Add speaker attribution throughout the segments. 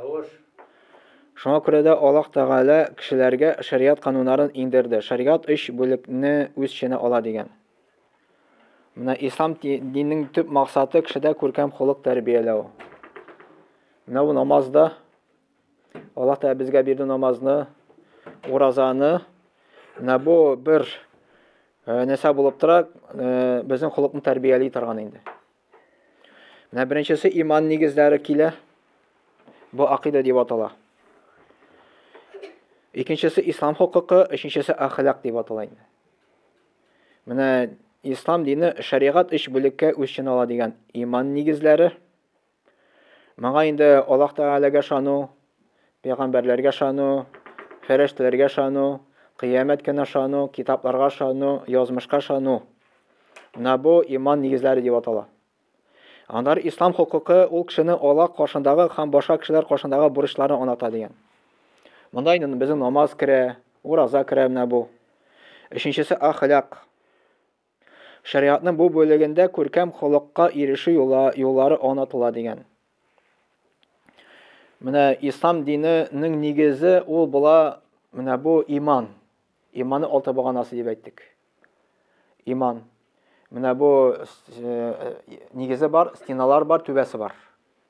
Speaker 1: Тавыш. Шуңа күрә дә Аллаһ Тәгалә кешеләргә шәригать кануннарын иңдерде. Шәригать өч бүлекне үз эченә ала дигән. Менә ислам диненең төп максаты кешедә күркәм холык тәрбияләү. Менә бу намаз да Аллаһ Тәгалә безгә бирде намазны, уразаны. Менә бу бер нәрсә булып тора, безнең холыкны тәрбияли торган инде. Менә беренчесе иман нигезләре килә. Бу акыйда дип атала. Икенчесе ислам хукукы, өченчесе әхлак дип атала инде. Менә ислам дине шәригать өч бүлеккә үз ичен ала дигән иман нигезләре. Моңа инде Аллаһ Тәгаләгә ышану, пәйгамбәрләргә ышану, фәрештәләргә ышану, кыямәт көненә ышану, китапларга ышану, язмышка ышану. Менә бу иман нигезләре дип атала. Аннары ислам хокукы ул кешене Аллаһ каршындагы һәм башка кешеләр каршындагы бурычларын аңлата дигән. Монда инде безнең намаз керә, ураза керә менә бу. Өченчесе ахлак. Шәригатьнең бу бүлегендә күркәм холыкка ирешү юллары аңлатыла, дигән. Менә ислам диненең нигезе ул була, менә бу иман. Иманның алты баганасы дип әйттек. Иман. Менә бу э, нигезе бар, стеналар бар, түбәсе бар.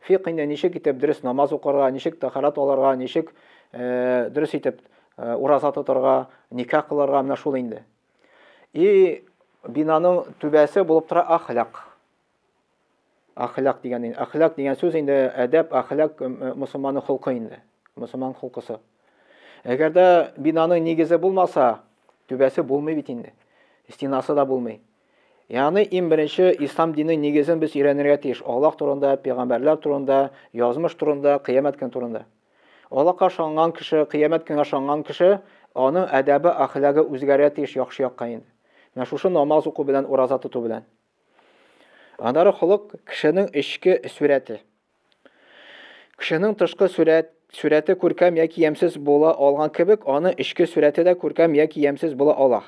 Speaker 1: Фикъ инде ничек итеп дөрес намаз укырга, ничек тәхарат алырга, ничек дөрес итеп ураза тотарга, никах кылырга, менә шул инде. И бинаның түбәсе булып тора ахлак. Ахлак дигән инде. Ахлак дигән сүз инде әдәп, ахлак мусулманның холкы инде. Мусулман холкысы. Әгәр дә бинаның нигезе булмаса, түбәсе булмый бит инде. Стенасы да булмый. Ягъни, иң беренче, Ислам диненең нигезен без өйрәнергә тиеш, Аллаһ турында, пәйгамбәрләр турында, язмыш турында, кыямәт көне турында. Аллаһка ышанган кеше, кыямәт көненә ышанган кеше, аның әдәбе, әхлагы үзгәрергә тиеш яхшы якка инде. Менә шушы намаз уку белән, ураза тоту белән. Аннары холык, кешенең эчке сурәте. Кешенең тышкы сурәт, сурәте күркәм яки ямьсез була алган кебек, аның эчке сурәте дә күркәм яки ямьсез була ала.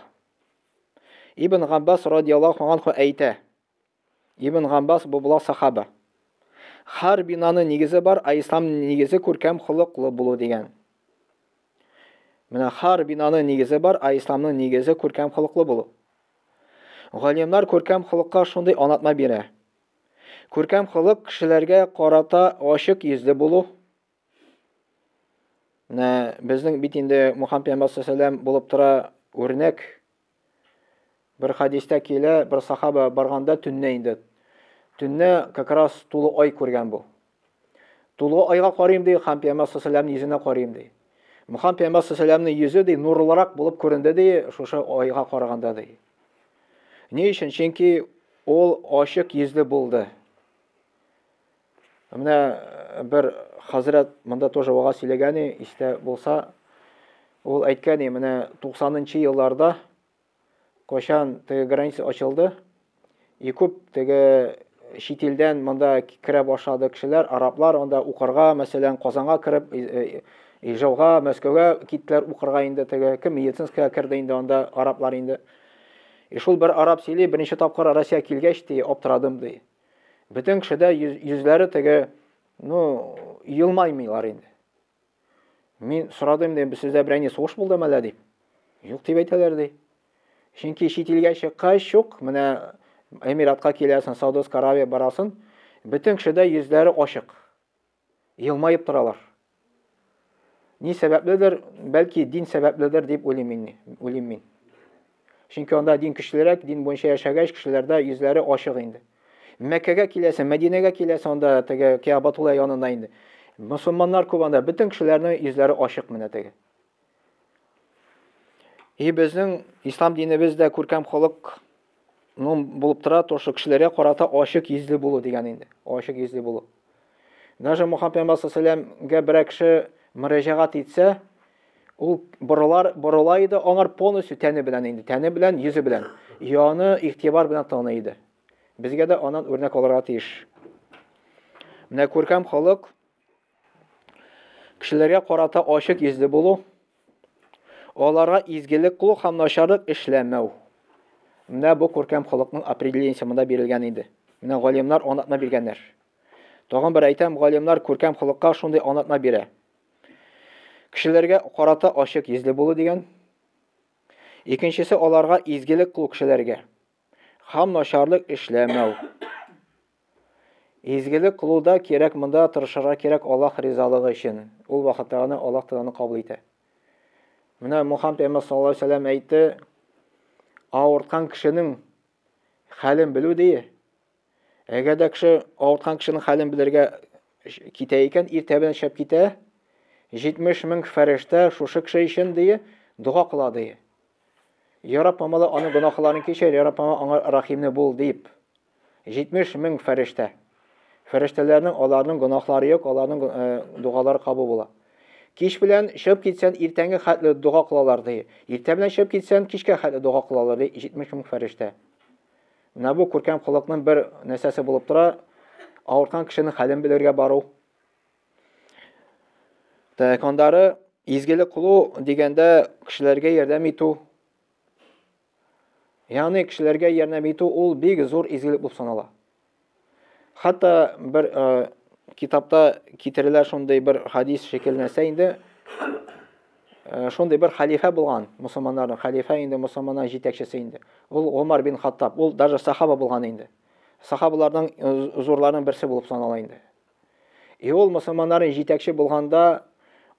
Speaker 1: Ибн Габбас радиаллаһу анһу әйтә, Ибн Габбас бу була сахаба. Хар бинаны нигезе бар, а ислам нигезе күркәм холыклы булу дигән. Менә хар бинаны нигезе бар, а исламның нигезе күркәм холыклы булу. Галимнар күркәм холыкка шундый анатма бирә. Күркәм холык кешеләргә карата ачык йөзле булу, Менә безнең бит инде Мухаммед пәйгамбәр саллаллаху булып тора үрнәк. Бер хадистә килә, бер сахаба барганда төнне инде. Төнне как раз тулы ай күргән бу. Тулы айга карыйм ди, Мухаммед пәйгамбәр саллаллаху йөзенә карыйм ди. Мухаммед пәйгамбәр саллаллаху йөзе ди нурлырак булып күренде ди, шушы айга караганда ди. Ни өчен? Чөнки ул ачык йөзле булды. Менә бер хәзрәт монда тоже вага сөйләгәне истә булса, ул әйткәне, менә 90-нчы елларда кайчан теге граница ачылды, и күп теге чит илдән монда керә башлады кешеләр, араблар анда укырга, мәсәлән, Казанга кереп, Ижауга, Мәскәүгә киттеләр укырга инде теге, кем медицинская керде инде анда араблар инде. И шул бер араб сөйли, беренче тапкыр Россия килгәч, ди, аптырадым, ди. Бөтен кеше дә йөзләре теге, ну, елмаймыйлар инде. Мин сорадым, дим, сездә берәй ни сугыш булдымы әллә дип. Юк дип әйтәләр ди. Чөнки чит илгә чыккач шук, менә Эмиратка киләсен, Саудовская Аравия барасын, бөтен кешедә йөзләре ачык. елмаеп торалар. Ни сәбәпледер, бәлки дин сәбәпледер дип уйлыйм мин. Уйлыйм мин. Чөнки анда дин көчлерәк, дин буенча яшәгәч, кешеләрдә йөзләре ачык инде. Мәккәгә киләсең, Мәдинәгә киләсең, анда теге Кәабатулла янына инде. Мусулманнар күп анда, бөтен кешеләрнең йөзләре ачык менә теге. И безнең ислам динебез дә күркәм халык ну булып тора, то что кешеләргә карата ачык йөзле булу дигән инде. Ачык йөзле булу. Даже Мухаммад пәйгамбәр салләмгә берәр кеше мөрәҗәгать итсә, ул борылар, борыла иде аңар полностью тәне белән инде, тәне белән, йөзе белән. И аны игътибар белән таный иде. Безгә дә анан үрнәк алырга тиеш. Менә күркәм халык Кешеләргә карата ачык йөзле булу, аларга изгелек кылу һәм начарлык эшләмәү. Менә бу күркәм халыкның определениясе монда бирелгән инде. Менә галимнар анатма биргәннәр. Тагын бер әйтәм, галимнар күркәм халыкка шундый анатма бирә. Кешеләргә карата ачык йөзле булу дигән. Икенчесе аларга изгелек кылу кешеләргә. Хам начарлык эшләмәү. Изгелек кылуда кирәк монда тырышырга кирәк Аллаһ ризалыгы өчен. Ул вакытта гына Аллаһ Тәгалә кабул итә. Менә Мухаммад пәйгамбәр саллаллаһу алейһи вәсәлләм әйтте, авырткан кешенең хәлен белү дие. Әгәр дә кеше авырткан кешенең хәлен белергә китә икән, иртә белән шәп китә, 70 мең фәрештә шушы кеше өчен дие, дога кыла дие. Яраб Аллаһ аның гөнаһларын кичер, Яраб Аллаһ аңа рәхимле бул дип. 70 мең фәрештә. Фәрештәләрнең аларның гөнаһлары юк, аларның э, дугалары кабул була. Кич белән чыгып китсән, иртәнге хәтле дога кылалар ди. Иртә белән чыгып китсән, кичкә хәтле дога кылалар ди 70 мең фәрештә. Менә бу күркәм холыкның бер нәрсәсе булып тора, авырткан кешенең хәлен белергә бару. Тәкандары изгелек кылу дигәндә кешеләргә ярдәм итү. Ягъни кешеләргә ярдәм итү ул бик зур изгелек булып санала. Хәтта бер ә, китапта китерелә шундый бер хадис шикелләнсә инде, ә, шундый бер халифә булган, мусламаннарның халифә инде мусламаннар җитәкчесе инде. Ул Умар бин Хаттаб, ул даже сахаба булган инде. Сахабаларның э, зурларының берсе булып санала инде. И ул мусламаннарның җитәкче булганда,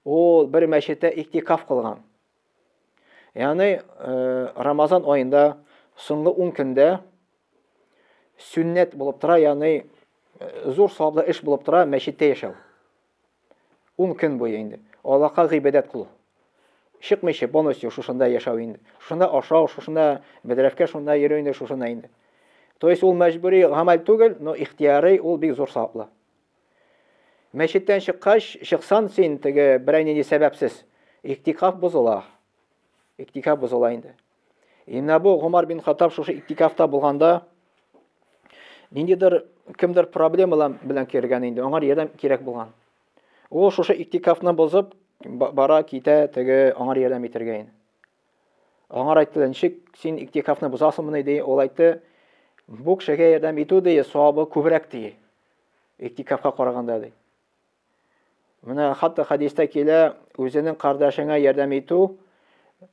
Speaker 1: ул бер мәчеттә иктикаф кылган. Яны Рамазан айында соңгы 10 көндә сүннәт булып тора, яны зур саваплы эш булып тора, мәчеттә яшәү. 10 көн буе инде. Аллаһка гыйбадәт кылу. Чыкмыйча полностью шушында яшәү инде. Шушында ашау, шушында бедрәфкә шунда йөрү инде, шушында инде. То есть ул мәҗбүри гамәл түгел, но ихтияри ул бик зур саваплы. Мәчеттән чыккач, чыксан син теге берәй нинди сәбәпсез. Иктикаф бозыла. Иктикаф бозыла инде. Инна бу Гомар бин Хаттаб шушы иктикафта булганда ниндидер кемдер проблемалар белән кергән инде, аңар ярдәм кирәк булган. Ул шушы иктикафны бозып бара китә теге аңар ярдәм итергә инде. Аңар әйттеләр, ничек син иктикафны бозасыңмыни, ди. Ул әйтте, бу кешегә ярдәм итү, ди, савабы күбрәк, ди. Иктикафка караганда, ди. Менә хәтта хәдистә килә, үзенең кардәшеңә ярдәм итү,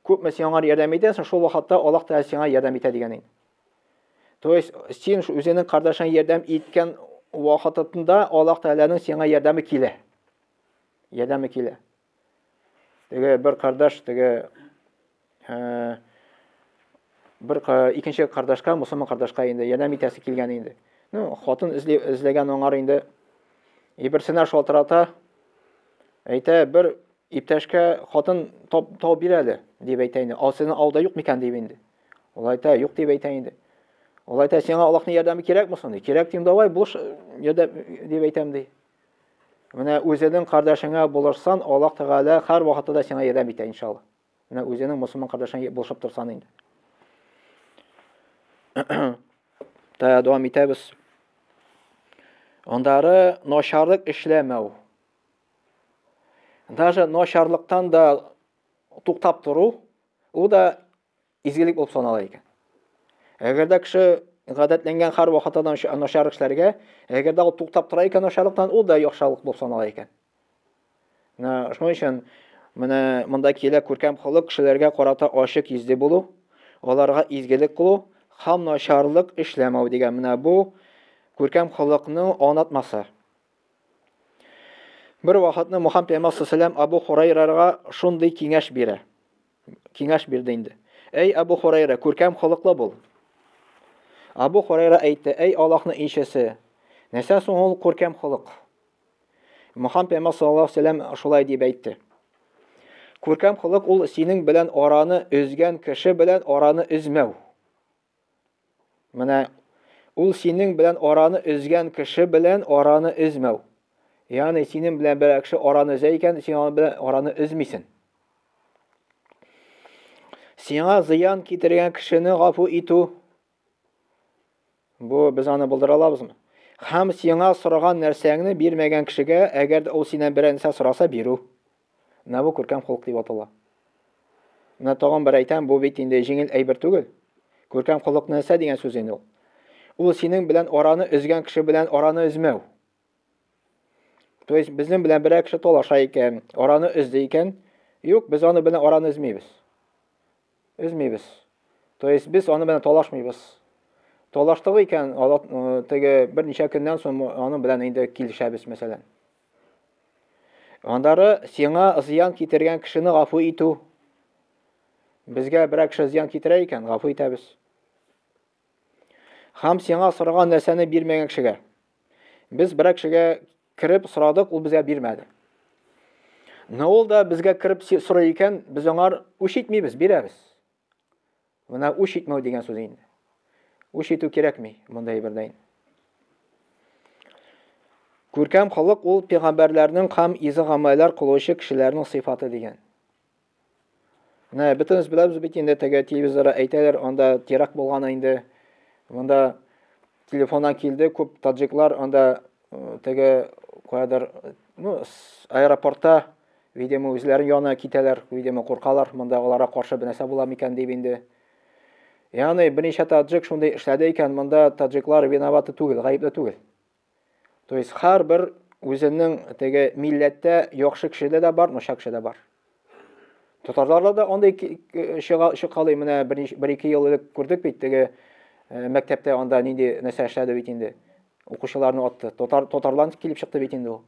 Speaker 1: күпме син аңар ярдәм итәсең, шул вакытта Аллаһ Тәгалә сиңа ярдәм итә дигән инде. То есть син үзенең кардәшеңә ярдәм иткән вакытында Аллаһ Тәгаләнең сиңа ярдәме килә. Ярдәме килә. Теге бер кардаш теге э, бер икенче кардашка, мусульман кардашка инде ярдәм итәсе килгән инде. Ну, хатын эзли, эзләгән аңар инде. Иберсенә шалтырата. Әйтә, бер иптәшкә хатын тап, тау бир әле, дип әйтә инде. Ал сезнең алда юк микән дип инде. Ул әйтә, юк дип әйтә инде. Ул әйтә, сиңа Аллаһның ярдәме кирәкме соң? Кирәк дим, давай, булыш ярдәм дип әйтәм ди. Менә үзенең кардәшеңә булышсан, Аллаһ Тәгалә һәр вакытта да сиңа ярдәм итә, иншалла. Менә үзенең мусулман кардәшеңә булышып торсан инде. Тая дәвам итәбез. Андары начарлык эшләмәү. Даже начарлыктан да туктап тору, ул да изгелек булып санала икән. Әгәр дә кеше гадәтләнгән хәр вакытыдан начар эшләргә, әгәр дә ул туктап тора икән начарлыктан, ул да яхшылык булып санала икән. Менә шуның өчен менә монда килә күркәм холык кешеләргә карата ачык йөзле булу, аларга изгелек кылу һәм начарлык эшләмәү дигән менә бу күркәм холыкның анатмасы. Бер вакытны Мухаммед пәйгамбәр саллаллаху Абу Хурайрага шундый киңәш бирә. киңәш бирде инде. Әй, Абу Хурайра, күркәм холыклы бул. Абу Хурайра әйтте, әй Аллаһның илчесе, нәрсә соң ул күркәм холык? Мөхәммәд пәйгамбәр саллаллаһу алейһи вәсәлләм шулай дип әйтте. Күркәм холык ул синең белән араны өзгән кеше белән араны өзмәү. Менә ул синең белән араны өзгән кеше белән араны өзмәү. Ягъни синең белән берәр кеше араны өзә икән, син аның белән араны өзмисең. Сиңа зыян китергән кешене гафу итү. Бу без аны булдыра алабызмы? Хәм сиңа сораган нәрсәңне бирмәгән кешегә, әгәр дә ул синнән берәр нәрсә сораса, бирү. Менә бу күркәм холык дип атала. Менә тагын бер әйтәм, бу бит инде җиңел әйбер түгел. Күркәм холык нәрсә дигән сүз инде ул? Ул синең белән араны өзгән кеше белән араны өзмәү. То есть безнең белән берәр кеше талаша икән, араны өзде икән, юк, без аны белән араны өзмибез. Өзмибез. То есть без аны белән талашмыйбыз. Талаштык икән, э, теге берничә көннән соң аны белән инде килешәбез, мәсәлән. Аннары сиңа зыян китергән кешене гафу итү. Безгә берәр кеше зыян китерә икән, гафу итәбез. Хам сиңа сораган нәрсәне бирмәгән кешегә. Без берәр кешегә кереп сорадык, ул безгә бирмәде. Но ул да безгә кереп сорый икән, без аңар үч итмибез, бирәбез. Менә үч итмәү дигән сүз инде. Үч итү кирәкми монда әйбердә инде. Күркәм халык ул пигамбәрләрнең кам изе гамәлләр кылучы кешеләрнең сыйфаты дигән. Менә бөтенес беләбез бит инде теге телевизорда әйтәләр, анда теракт булган инде. Монда телефоннан килде, күп таджиклар анда теге куядыр, ну, аэропортта Видимо, үзләрен яна китәләр, видимо, куркалар, монда алара каршы бенәсә була микән дип инде. Яны берничә таджик шундый эшләде икән, монда таджиклар виноваты түгел, гаепле түгел. То есть хар бер үзенең теге милләттә яхшы кеше дә бар, ношак кеше дә бар. Татарларда да андый чыга чыкалый, менә бер ике ел элек күрдек бит теге э, мәктәптә анда нинди нәрсә эшләде бит инде. Укучыларны атты. Татар татарлар килеп чыкты бит инде ул.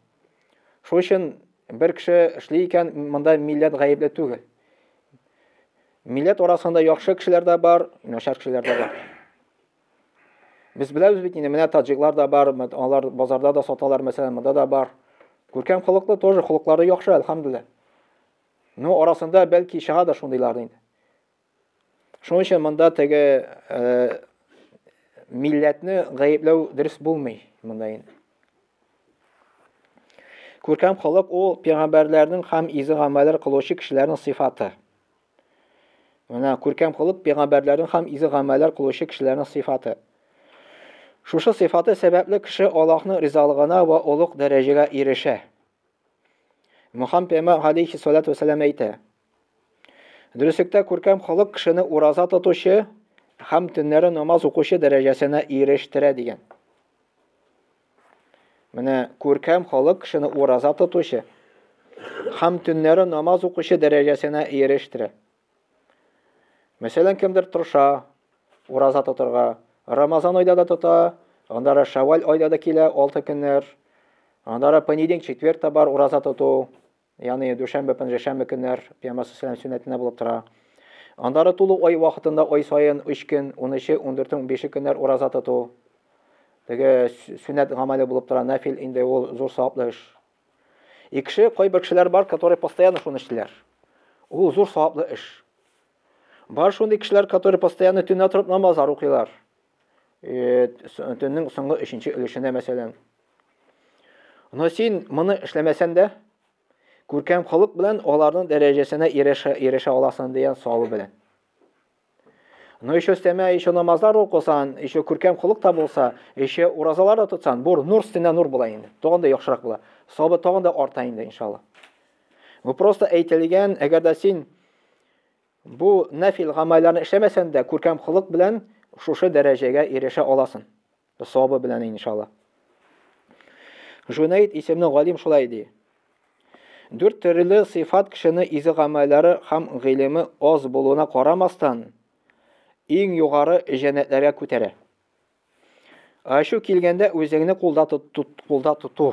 Speaker 1: Шул өчен бер кеше эшли икән, монда милләт гаепле түгел. Милләт арасында яхшы кешеләр дә бар, начар кешеләр дә бар. Без беләбез бит инде, менә таҗиклар да бар, алар базарда да саталар, мәсәлән, монда да бар. Күркәм холыклы тоже, холыклары яхшы, әлхәмдулилла. Ну, арасында бәлки чыга да шундыйлар инде. Шуның өчен монда теге э, милләтне гаепләү дөрес булмый монда инде. Күркәм халык ул пәйгамбәрләрнең һәм изге гамәлләр кылучы кешеләрнең сыйфаты. Менә күркәм халык пәйгамбәрләрнең һәм изге гамәлләр кылучы кешеләрнең сыйфаты. Шушы сыйфаты сәбәпле кеше Аллаһның ризалыгына ва олуг дәрәҗәгә ирешә. Мөхәммәд пәйгамбәр алейхи салату вассалам әйтә: Дөреслектә күркәм халык кешене ураза тотучы һәм төннәре намаз укучы дәрәҗәсенә ирештерә дигән. Менә күркәм халык кешене ураза тотучы һәм төннәре намаз укучы дәрәҗәсенә ирештерә. Мәсәлән, кемдер тырыша, ураза тотырга, Рамазан айда да тота, андары Шаваль айда да килә, алты көннәр, андары понедельник, четверг та бар ураза тоту. Яни дүшәмбе, пәнҗешәмбе көннәр пиямасы сәләм сөннәтенә булып тора. Аннары тулу ай вакытында ай саен 3 көн, 13, 14, 15 көннәр ураза тоту. Теге сөннәт гамәле булып тора, нәфил инде ул зур саваплы эш. И кеше, кайбер кешеләр бар, которые постоянно шуны эшлиләр. Ул зур саваплы эш. Бар шундый кешеләр, которые постоянно төнлә торып намазлар укыйлар. төннең соңгы өченче өлешенә мәсәлән. Но син моны эшләмәсән дә, күркәм халык белән аларның дәрәҗәсенә ирешә, ирешә аласың дигән савы белән. Но еще өстәмә, еще намазлар укысан, еще күркәм холык та булса, еще уразалар да тотсан, бур нур стена нур була инде. Тагын да яхшырак була. Сабы тагын да арта инде, иншалла. Бу просто әйтелгән, әгәр дә син Бу нәфил гамәлләрне эшләмәсән дә, күркәм холык белән шушы дәрәҗәгә ирешә аласың. Савабы белән иншалла. Жунейд исемле галим шулай ди. Дүрт төрле сыйфат кешене изге гамәлләре һәм гыйлеме аз булуына карамастан, иң югары җәннәтләргә күтәрә. Ачу килгәндә үзеңне кулда тот, кулда тоту.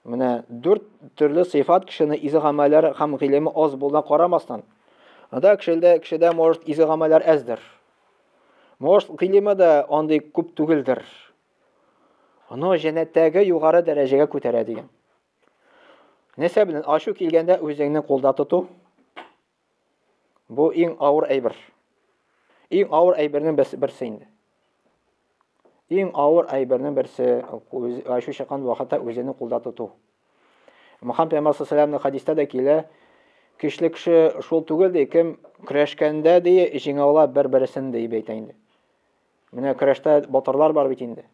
Speaker 1: Менә дүрт төрле сыйфат кешене изге гамәлләр һәм гыйлеме аз булуына карамастан. Анда кешелдә кешедә может изге гамәлләр әздер. Может гыйлеме дә андый күп түгелдер. Аны җәннәттәге югары дәрәҗәгә күтәрә дигән. Нәрсә белән ачу килгәндә үзеңне кулда тоту, Бу иң авыр әйбер. Иң авыр әйбернең берсе, берсе инде. Иң авыр әйбернең берсе үз, ачу чыккан вакытта үзеңне кулда тоту. Мөхәммәд пәйгамбәр саллаллаһу хадистә дә килә, көчле кеше шул түгел ди, кем көрәшкәндә ди, җиңә ала бер-берсен ди бәйтә инде. Менә көрәштә батырлар бар бит инде.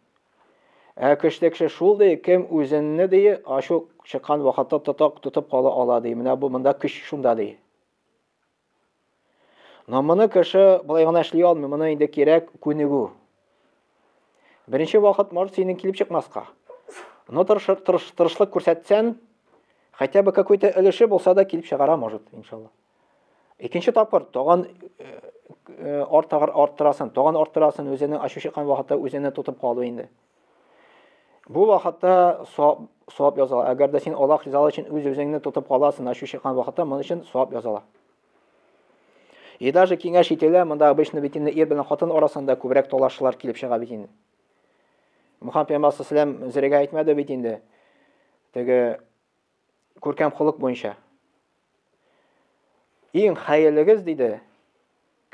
Speaker 1: Ә көчле кеше шул ди, кем үзенне ди, ачу чыккан вакытта тотак тотып кала ала ди. Менә бу монда көч шунда ди. Но моны кеше болай гына эшли алмый, моны инде кирәк күнегү. Беренче вакыт может синең килеп чыкмаска. Но тырышлык күрсәтсән, хотя бы какой-то өлеше булса да килеп чыгара может, иншалла. Икенче тапкыр тагын артагыр арттырасын, тагын арттырасын, үзенең ачу чыккан вакытта үзенә тотып калу инде. Бу вакытта савап язала. Әгәр дә син Аллаһ ризалыгы өчен үз-үзеңне тотып каласың, ачу чыккан вакытта, моның өчен савап язала. И даже киңәш ителә, монда обычно бит инде ир белән хатын арасында күбрәк талашлар килеп чыга бит инде. Мухаммад пәйгамбәр саллаллаху алейһи ва әйтмәде бит инде. Теге Күркәм холык буенча. Иң хәерлегез, диде,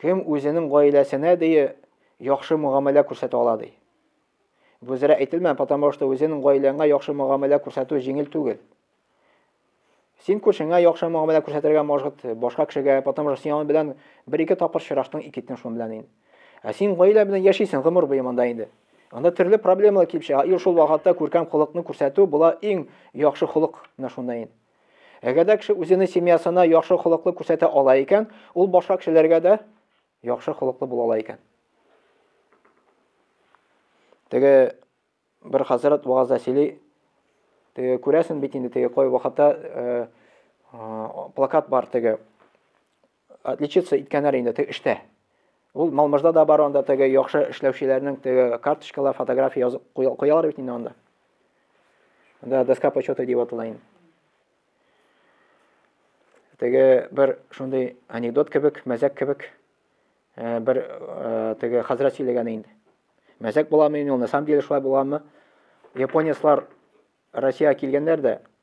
Speaker 1: кем үзенең гаиләсенә дие яхшы мөгамәлә күрсәтә ала, ди. Бу зря әйтелмә, потому что үзенең гаиләңә яхшы мөгамәлә күрсәтү җиңел түгел. Син күршеңә яхшы мөгамәлә күрсәтергә может, башка кешегә, потому что син аның белән бер-ике тапкыр очраштың, икетне шуның белән инде. Ә син гаилә белән яшисең гомер буе монда инде. Анда төрле проблемалар килеп чыга. И шул вакытта күркәм холыкны күрсәтү була иң яхшы холык менә шунда инде. Әгәр дә кеше үзенең семьясына яхшы холыклы күрсәтә ала икән, ул башка кешеләргә дә яхшы холыклы була ала икән. Теге бер хәзрәт вагазда сөйли, теге күрәсен бит инде теге кой вакытта э, э, плакат бар теге Отличиться иткәннәр инде теге эштә. Ул Малмыжда да бар анда теге яхшы эшләүчеләрнең теге карточкалар, фотография язып куялар бит инде анда. Анда доска почета дип атала инде. Теге бер шундый анекдот кебек, мәзәк кебек э, бер э, теге хәзрәт сөйләгән инде. Мәзәк буламы инде ул, на самом деле шулай буламы? Японецлар Россия килгәннәр дә,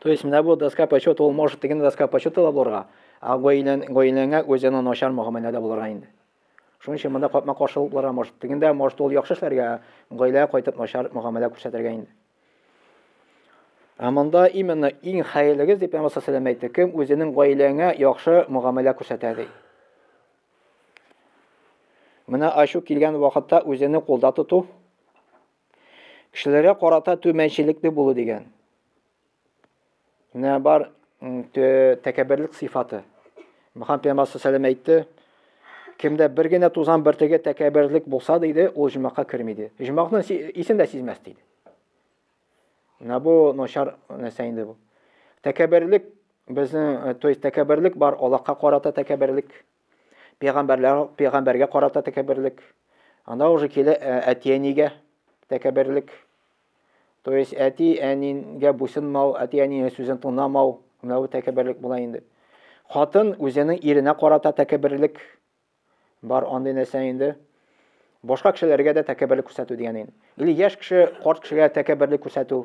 Speaker 1: То есть менә бу доска почета ул может теге доска почета да булырга, а гаилән гаиләңә үзенә начар мөгамәләдә булырга инде. Шуның өчен монда капма каршы булып булырга может. Тегендә может ул яхшы эшләргә, гаиләгә кайтып начар мөгамәлә күрсәтергә инде. Ә монда именно иң хәерлегез дип Пәйгамбәр саллаллаху алейһи әйтте, кем үзенең гаиләңә яхшы мөгамәлә күрсәтә ди. Менә ачу килгән вакытта үзене кулда тоту Кешеләргә карата түмәнчелекле булу дигән. Менә бар тәкәбберлек сыйфаты. Мөхәммәд пәйгамбәр саллаллаху әйтте, кемдә бер генә тузан бөртеге тәкәбберлек булса диде, ул җомакка керми диде. Җомакны исен дә сизмәс диде. Менә бу начар нәрсә инде бу. Тәкәбберлек безнең, то есть тәкәбберлек бар, Аллаһка карата тәкәбберлек. Пәйгамбәрләр пәйгамбәргә карата тәкәбберлек. Анда уже килә әти-әнигә тәкәбберлек. То есть әти-әнигә буйсынмау, әти-әнинең сүзен тыңламау, менә бу тәкәбберлек була инде. Хатын үзенең иренә карата тәкәбберлек бар андый нәрсә инде. Башка кешеләргә дә тәкәбберлек күрсәтү дигән инде. Или яшь кеше карт кешегә тәкәбберлек күрсәтү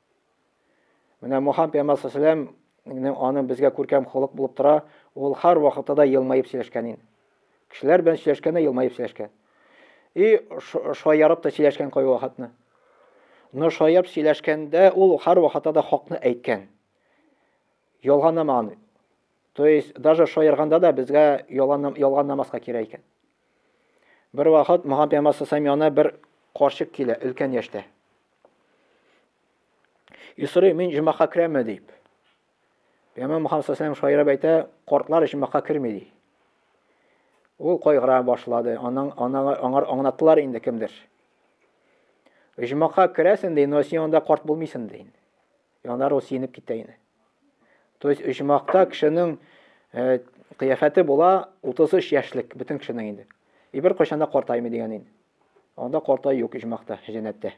Speaker 1: Менә Мухаммед пәйгамбәр сәләм аның безгә күркәм холык булып тора, ул һәр вакытта да елмаеп сөйләшкән ин. Кешеләр белән сөйләшкәндә елмаеп сөйләшкән. И шаярып та сөйләшкән кайбер вакытны. Но шаярып сөйләшкәндә ул һәр вакытта да хакны әйткән. Ялганламаган. То есть даже шаярганда да безгә ялган ялган намазга кирәк икән. Бер вакыт моңа пәйгамбәр сасам янына бер карчык килә, өлкән яшьтә. И сорый, мин җомака керәме дип. Пәйгамбәр Мөхәммәд сасам шаярып әйтә, картлар җомака керми ди. Ул кайгыра башлады. Аның аңар аңар аңлаттылар инде кемдер. Җомака керәсен ди, но син анда карт булмыйсың ди. Янар ул сиенеп китә иде. То есть оҗмакта кешенең э, кыяфәте була 33 яшьлек бөтен кешенең инде. И бер кайчан да картаймый дигән инде. Анда картай юк оҗмакта, җәннәттә.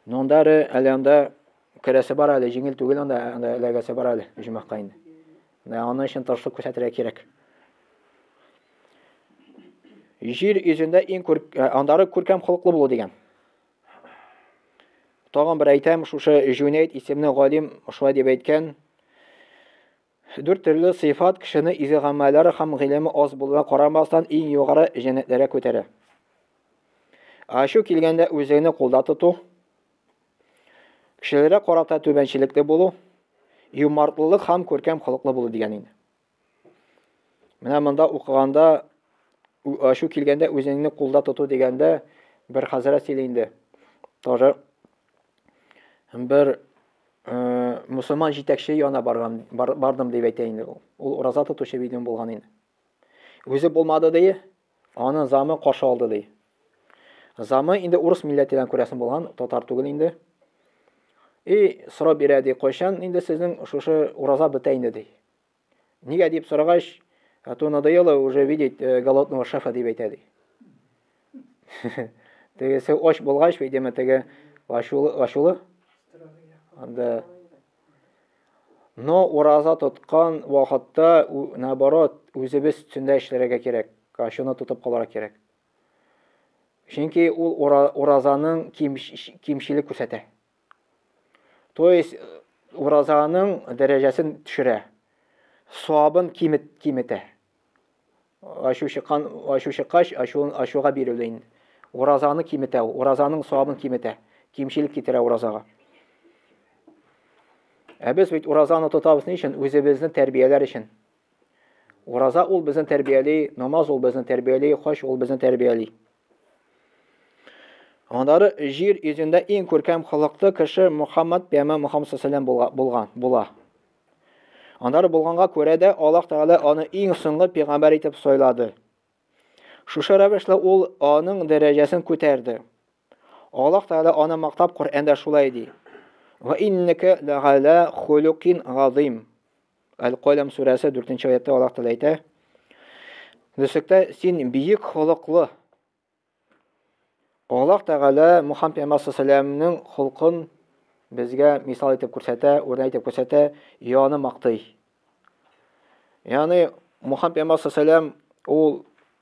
Speaker 1: Но анда әле анда керәсе бар әле, җиңел түгел анда, анда эләгәсе бар әле оҗмакка инде. Менә аның өчен тырышлык күрсәтергә кирәк. Җир йөзендә иң күр, э, андары күркәм холыклы булу дигән. Тагын бер әйтәм, шушы Җүнәйт исемле галим шулай дип әйткән. Дүрт төрле сыйфат кешене изге гамәлләре һәм гыйлеме аз булуына карамастан иң югары җәннәтләргә күтәрә. Ачу килгәндә үзеңне кулда тоту, кешеләргә карата түбәнчелекле булу, юмартлылык һәм күркәм холыклы булу дигән инде. Менә монда укыганда ачу килгәндә үзеңне кулда тоту дигәндә бер хәзрәт сөйли инде. Тоже бер э, мусульман җитәкче яна барган бар, бардым дип әйтә инде ул. Ул ураза тотучы видео булган инде. Үзе булмады ди, аны замы каршы алды ди. Замы инде урыс милләтеннән күрәсен булган, татар түгел инде. И сорап бирә ди, кайчан инде сезнең шушы ураза бетә инде ди. Нигә дип сорагач, а то надоело уже видеть э, голодного шефа дип әйтә ди. Тегесе оч булгач, видимо, теге ачулы, ачулы. Анда Но ураза тоткан вакытта, наоборот, үзебез төндә эшләргә кирәк. Ачуны тотып калырга кирәк. Чөнки ул уразаның кимчелек күрсәтә. То есть уразаның дәрәҗәсен төшерә. Савабын кимет киметә. Ачу чыккан, ачу чыккач, ачуын ачуга бирелде инде. Уразаны киметә, уразаның савабын киметә. Кимчелек китерә уразага. Ә без бит уразаны тотабыз ни өчен? Үзебезне тәрбияләр өчен. Ураза ул безне тәрбияли, намаз ул безне тәрбияли, хаҗ ул безне тәрбияли. Аннары җир йөзендә иң күркәм халыклы кеше Мухаммад пәйгамбәр Мухаммад саллаллаху була, булган була. Аннары булганга күрә дә Аллаһ Тәгалә аны иң соңгы пәйгамбәр итеп сайлады. Шушы рәвешле ул аның дәрәҗәсен күтәрде. Аллаһ Тәгалә аны мактап Коръәндә шулай ди. Ва иннәкә ләгала хулукин газим. Әл-Каләм сүрәсе 4 нче аятта Аллаһ Тәгалә әйтә, Дөслектә син биек холыклы. Аллаһ Тәгалә Мухаммад пәйгамбәр саллаллаһу холкын безгә мисал итеп күрсәтә, үрнәк итеп күрсәтә, яны мактый. Яны Мухаммад пәйгамбәр саллаллаһу ул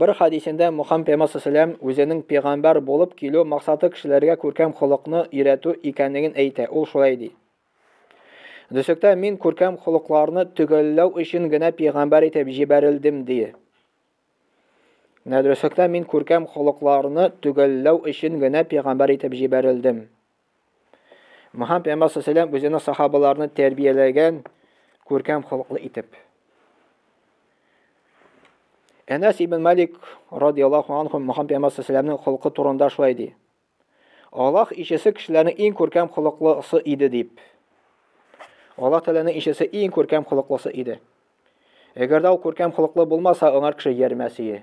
Speaker 1: Бер хәдисендә Мухаммед пәйгамбәр сәлам үзенең пәйгамбәр булып килү максаты кешеләргә күркәм холыкны өйрәтү икәнлеген әйтә. Ул шулай ди. Дөсектә мин күркәм холыкларны төгәлләү өчен генә пәйгамбәр итеп җибәрелдем, ди. Нәдресектә мин күркәм холыкларны төгәлләү өчен генә пәйгамбәр итеп җибәрелдем. Мөхәммәд пәйгамбәр саллаллаху үзенең сахабаларны тәрбияләгән күркәм холыклы итеп. Әнәс ибн Малик радияллаху анху Мөхәммәд пәйгамбәр саллаллаху холкы турында шулай ди. Аллаһ ишесе кешеләрнең иң күркәм холыклысы иде дип. Аллаһ Тәгаләнең ишесе иң күркәм холыклысы иде. Әгәр дә ул күркәм холыклы булмаса, аңар кеше ярмәсие.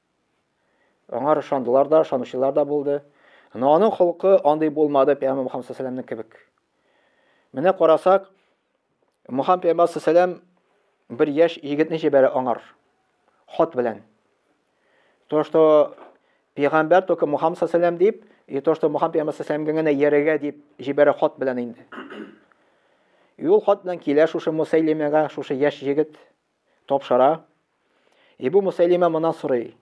Speaker 1: Аңар ышандылар да, ышанучылар да булды. Ана аның холкы андый булмады Пәйгамбер Мөхәммәд саллаллаһу кебек. Менә карасак, Мөхәммәд Пәйгамбер саллаллаһу бер яшь егетне җибәрә аңар хат белән. То, что Пәйгамбер только Мөхәммәд саллаллаһу дип, и то, что Мөхәммәд Пәйгамбер саллаллаһу генә ярыга дип җибәрә хат белән инде. Юл хат белән килә шушы Мусайлимәгә, шушы яшь егет Тапшыра. Эбу Мусәйлимә моннан сорый,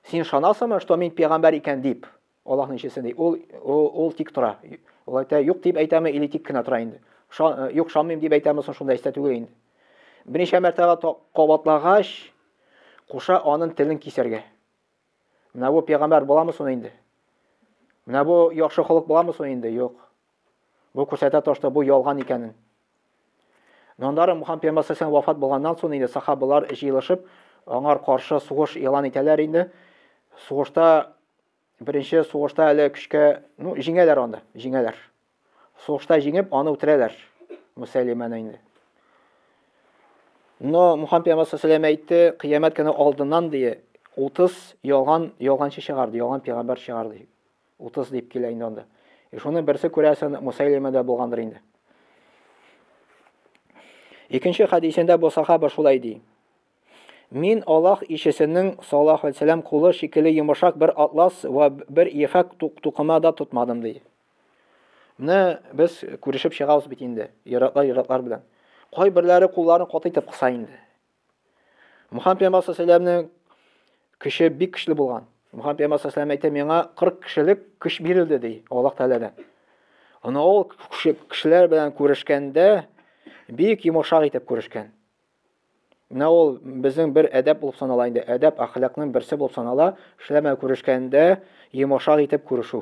Speaker 1: Син ышанасыңмы, что мин пигамбәр икән дип? Аллаһның илчесе ди. Ул, ул тик тора. Ул әйтә, юк дип әйтәме или тик кенә тора инде? Э, юк, шанмыйм дип әйтәме соң шунда истә түгел инде. Берничә мәртәбә кабатлагач, куша анын телен кисәргә. Менә бу пәйгамбәр буламы соң инде? Менә бу яхшы халык буламы соң инде? Юк. Бу күрсәтә тошта бу ялган икәнен. Нандары Мухаммад пәйгамбәр вафат булганнан соң инде сахабалар җыелышып, аңар каршы сугыш игълан итәләр инде. Сугышта беренче сугышта әле көчкә, ну, җиңәләр анда, җиңәләр. Сугышта җиңеп, аны үтерәләр. Мөсәлимәне инде. Но Мухаммед пәйгамбәр саллаллаху әйтте, кыямәт көне алдыннан дие 30 ялган ялганчы чыгарды, ялган пәйгамбәр чыгарды. 30 дип килә инде анда. И шуны берсе күрәсен Мусайлима да булгандыр инде. Икенче хадисендә бу сахаба шулай ди. Мин Аллаһ ишесенең саллаллаху алейһи вәсәлләм кулы шикелле йомышак бер атлас ва бер ефәк тукымада тотмадым ди. Менә без күрешеп чыгабыз бит инде, йөрәкләр-йөрәкләр белән. Кайберләре кулларын катыйтып кыса инде. Мухаммед пәйгамбәр саллаллаһу көче бик көчле булган. Мухаммед пәйгамбәр саллаллаһу әйтә, миңа 40 кешелек көч бирелде ди, Аллаһ Тәгаләдән. Аны ул кешеләр белән күрешкәндә бик йомшак итеп күрешкән. Менә ул безнең бер әдәп булып санала инде, әдәп ахлакның берсе булып санала, кешеләр белән күрешкәндә йомшак итеп күрешү.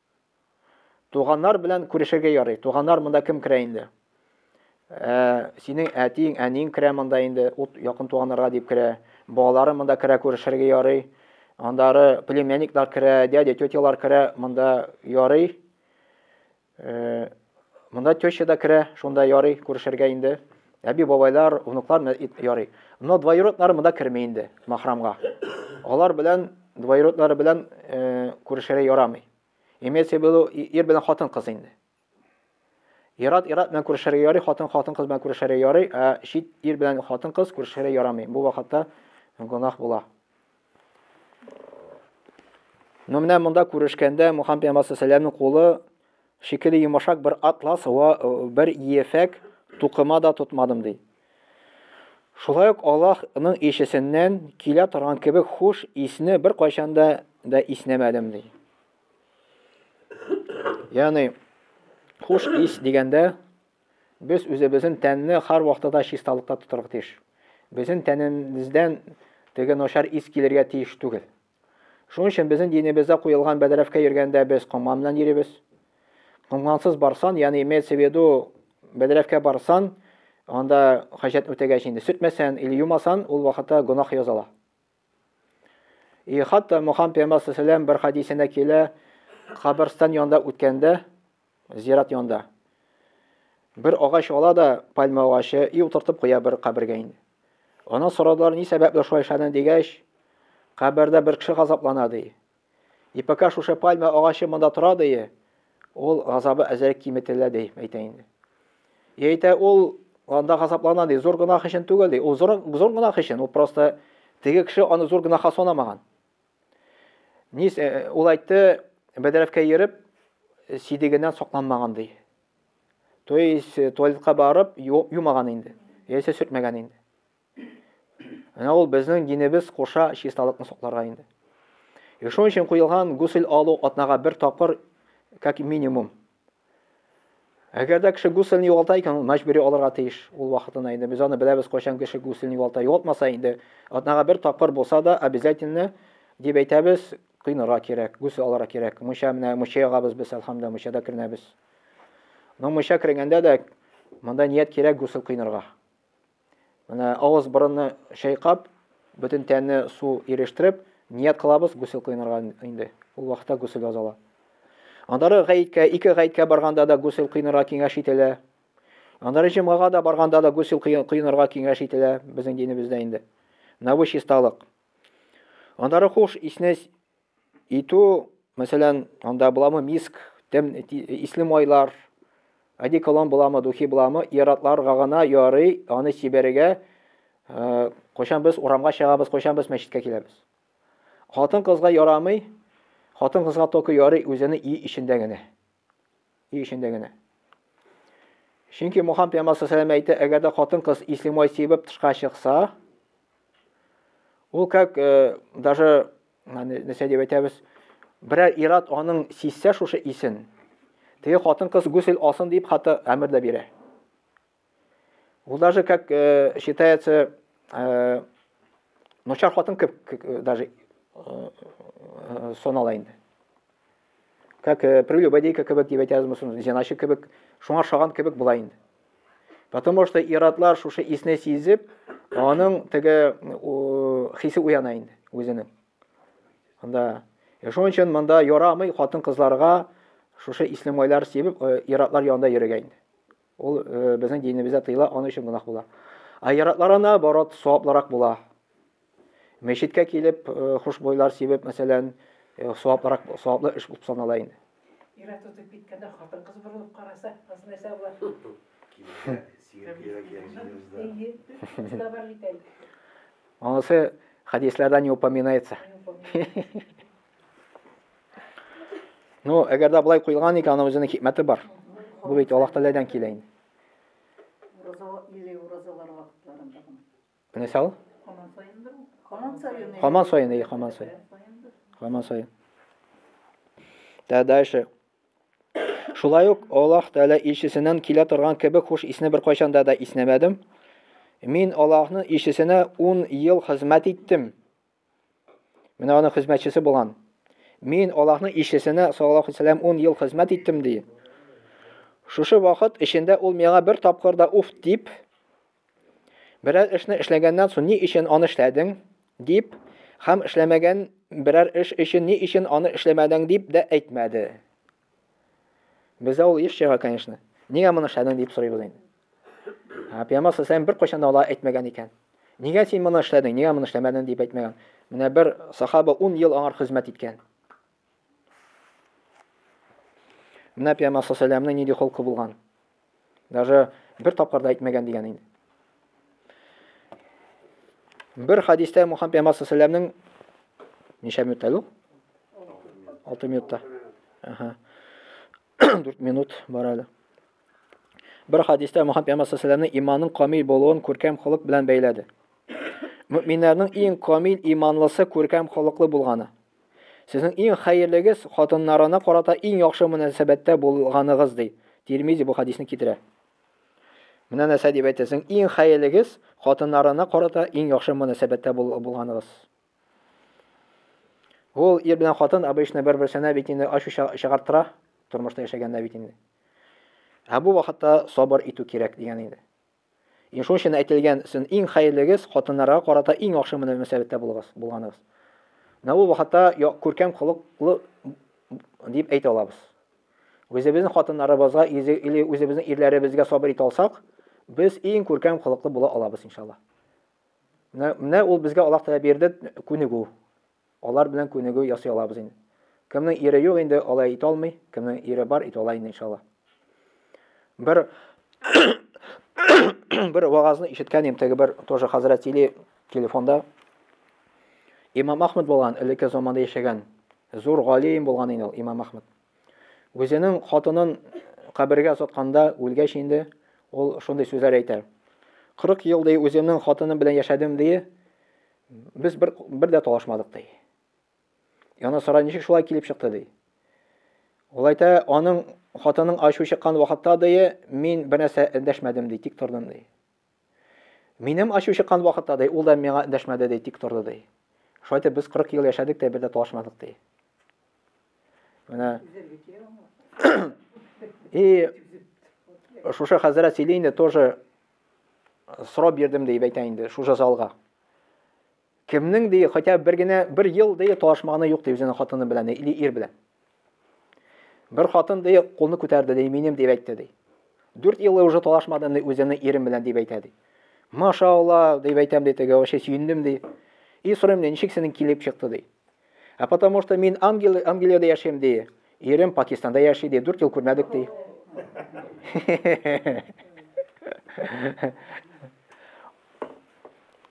Speaker 1: Туганнар белән күрешергә ярый. Туганнар монда кем керә инде? Ә, синең әтиң, әниң керә монда инде, ут якын туганнарга дип керә. Балалары монда керә күрешергә ярый. Андары племянниклар керә, дядя, тетялар керә монда ярый. Э, Монда теща да керә, шунда ярый күрешергә инде. Әби-бабайлар, внуклар ярый. Но двоюроднары монда керми инде, махрамга. Алар белән, двоюроднары белән э, күрешергә ярамый. Имеется в виду, ир белән хатын кыз инде. Ират ират белән күрешергә ярый, хатын хатын кыз белән күрешергә ярый, ә чит ир белән хатын кыз күрешергә ярамый. Бу вакытта гунах була. Но менә монда күрешкәндә Мухаммед пәйгамбәр саллаллаху алейһи кулы шикелле йомышак бер атлас вә бер ефәк тукыма да тотмадым, ди. Шулай ук Аллаһ ның илчесеннән килә торган кебек хуш исне беркайчан да да иснәмәдем, ди. Ягъни, хуш ис дигәндә, без үзебезнең тәнне һәрвакытта да чисталыкта тотарга тиеш. Безнең тәнебездән теге начар ис килергә тиеш түгел. Шуның өчен безнең динебездә куелган бәдрәфкә йөргәндә без комган белән йөрибез. Комгансыз барсан, ягъни имеется в виду, бәдрәфкә барсан, анда хаҗәт үтәгәч инде сүтмәсән или юмасан, ул вакытта гөнаһ языла. И хатта Мухаммад пәйгамбәр сәләм бер хадисендә килә, каберстан янында үткәндә, Зират янында. Бер агач ала да пальма агачы и утыртып куя бер кабергә инде. Аны сорадылар, ни сәбәпле шулай эшләдең дигәч, кабердә бер кеше газаплана ди. И пока шушы пальма агачы монда тора ди, ул газабы әзрәк киметелә ди, әйтә инде. И әйтә ул анда газаплана ди, зур гынах өчен түгел ди, ул зур, зур гынах өчен, ул просто теге кеше аны зур гынаха санамаган. Нис, э, ул әйтте, бәдрәфкә йөреп, сидегеннән сокланмаган ди. То есть, э, туалетка барып, юмаган инде. Яисә сүртмәгән инде. Менә ул безнең динебез куша чисталыкны сокларга инде. И шуның өчен куелган гусел алу атнага бер тапкыр, как минимум, Әгәр дә кеше гуселен югалта икән, ул мәҗбүри алырга тиеш. Ул вакытына инде без аны беләбез, кайчан кеше гуселен югалта. Югалтмаса инде, атнага бер тапкыр булса да, обязательно, дип әйтәбез, коенырга кирәк, гусел алырга кирәк. Мунча менә мунча ягабыз без, әлхәмдулилла, мунчада керенәбез. Но мунча керенгәндә дә монда ният кирәк гусел коенырга. Менә авыз-борынны чайкап, бөтен тәнне су ирештереп, ният кылабыз гусел кыйнарга инде. Ул вакытта гусел язала. Аннары гаеткә, ике гаеткә барганда да гусел кыйнарга киңәш ителә. Аннары җомгага да барганда да гусел кыйнарга киңәш ителә безнең динебездә инде. Менә бу чисталык. Аннары хуш исне Итү, мәсәлән, анда буламы миск, тем, исле майлар, одеколон буламы, духи буламы, иратларга гына ярый аны сибәргә, э, кайчан без урамга чыгабыз, кайчан без мәчеткә киләбез. Хатын-кызга ярамый, хатын-кызга только ярый үзенең өй эчендә генә. Өй эчендә генә. Чөнки Мухаммад пәйгамбәр саллаллаху әйтә, әгәр дә хатын-кыз ислемай сибеп тышка чыкса, ул как э, даже нәрсә дип әйтәбез, берәр ират аның сизсә шушы исен, теге хатын-кыз гүсел алсын дип хәтта әмер дә бирә. Ул даже как э, считается э, ночар хатын кеп э, даже э, э, сон ала инде. Как э, прелюбодейка кебек дип әйтәбезме соң, зеначы кебек, шуңа шаган кебек була инде. Потому что иратлар шушы исне сизеп, аның теге хисе уяна инде үзенең. Анда Э, шуның өчен монда ярамый хатын-кызларга шушы ислемайлар сибеп, э, иратлар янында йөрергә инде. Ул безнең динебездә тыела, аның өчен гөнаһ була. Ә яратларына барат саваплырак була. Мәчеткә килеп, хушбойлар сибеп, мәсәлән, саваплырак, саваплы эш булып санала инде. Ира тотып
Speaker 2: киткәндә хатын-кыз борылып караса, кыз
Speaker 1: нәрсә була? Анысы хәдисләрдә не упоминается. Ну, әгәр дә былай куелган икән, аның үзенең хикмәте бар. Бу бит Аллаһ Тәгаләдән килә инде.
Speaker 2: Мисал?
Speaker 1: Хаман сайын. Хаман сайын, хаман сайын. Хаман сайын. Дә дальше. Шулай ук Аллаһ Тәгалә илчесеннән килә торган кебек хуш исне бер кайчан да да иснәмәдем. Мин Аллаһның илчесенә 10 ел хезмәт иттем. Менә аның хезмәтчесе булган. Мин Аллаһның илчесенә саллаллаһу алейһи сәләм 10 ел хезмәт иттем ди. Шушы вакыт эчендә ул миңа бер тапкыр да уф дип берәр эшне эшләгәннән соң ни өчен аны эшләдең дип һәм эшләмәгән берәр эш өчен ни өчен аны эшләмәдең дип дә әйтмәде. Бездә ул еш чыга, конечно. Нигә моны эшләдең дип сорыйбыз инде. Ә Пәйгамбәр саллаллаху беркайчан да алай әйтмәгән икән. Нигә син моны эшләдең, нигә моны эшләмәдең дип әйтмәгән. Менә бер сахаба 10 ел аңар хезмәт иткән. Менә Пәйгамбәр саллаллаху алейһи нинди холкы булган. Даже бер тапкыр да әйтмәгән дигән инде. Бер хадистә Мухаммед Пәйгамбәр саллаллаху алейһи ва ничә минутта ул? 6 минутта. Аха. 4 минут бар әле. Бер хадистә Мөхәммәд пәйгамбәр саллаллаһу иманның камил булуын күркәм холык белән бәйләде. Мөминнәрнең иң камил иманлысы күркәм холыклы булганы. Сезнең иң хәерлегез хатыннарына карата иң яхшы мөнәсәбәттә булганыгыз ди. Тирмизи бу хадисны китерә. Менә нәрсә дип әйтә, иң хәерлегез хатыннарына карата иң яхшы мөнәсәбәттә булганыгыз. Ул ир белән хатын обычно бер-берсенә бит инде ачу чыгартыра, тормышта яшәгәндә бит инде. Ә бу вакытта сабыр итү кирәк дигән инде. Ин шуның өчен әйтелгән, син иң хәерлегез хатыннарга карата иң яхшы мөнәсәбәттә булыгыз, булганыгыз. Менә ул вакытта күркәм холыклы дип әйтә алабыз. Үзебезнең хатыннарыбызга или үзебезнең ирләребезгә сабыр итә алсак, без иң күркәм холыклы була алабыз иншалла. Менә, менә ул безгә Аллаһ Тәгалә бирде күнегү. Алар белән күнегү ясый алабыз инде. Кемнең ире юк инде, алай итә алмый, кемнең ире бар, итә ала инде иншалла. Бер бер вагазны ишеткән идем, теге бер тоже хәзрәт сөйли телефонда. Имам Ахмед булган, элекке заманда яшәгән. Зур галим булган инде ул Имам Ахмед. Үзенең хатынын кабергә озатканда, үлгәч инде, ул шундый сүзләр әйтә. 40 ел, ди, үземнең хатыным белән яшәдем, ди, без бер, бер дә талашмадык, ди. Яна сара ничек шулай килеп чыкты, ди. Ул әйтә, аның хатының ачу чыккан вакытта, ди, мин бер нәрсә эндәшмәдем, ди, тик тордым, ди. Минем ачу чыккан вакытта, ди, ул да миңа эндәшмәде, ди, тик торды, ди. Шулай итеп, без 40 ел яшәдек тә, бер дә талашмадык, ди. Менә И шушы хәзрәт сөйли инде, тоже сорап бирдем, дип әйтә инде, шушы залга. Кемнең ди, хотя бер генә бер ел ди талашмаганы юк ди үзенең хатыны белән или ир белән. Бер хатын ди кулны күтәрде ди, минем дип әйтте ди. 4 ел уже талашмадым ди үземнең ирем белән дип әйтә ди. Машалла дип әйтәм ди теге, вообще сөендем ди. И сорыйм ди, ничек синең килеп чыкты ди. А потому что мин Ангел, Англиядә яшим ди. Ирем Пакистанда яши ди, 4 ел күрмәдек ди.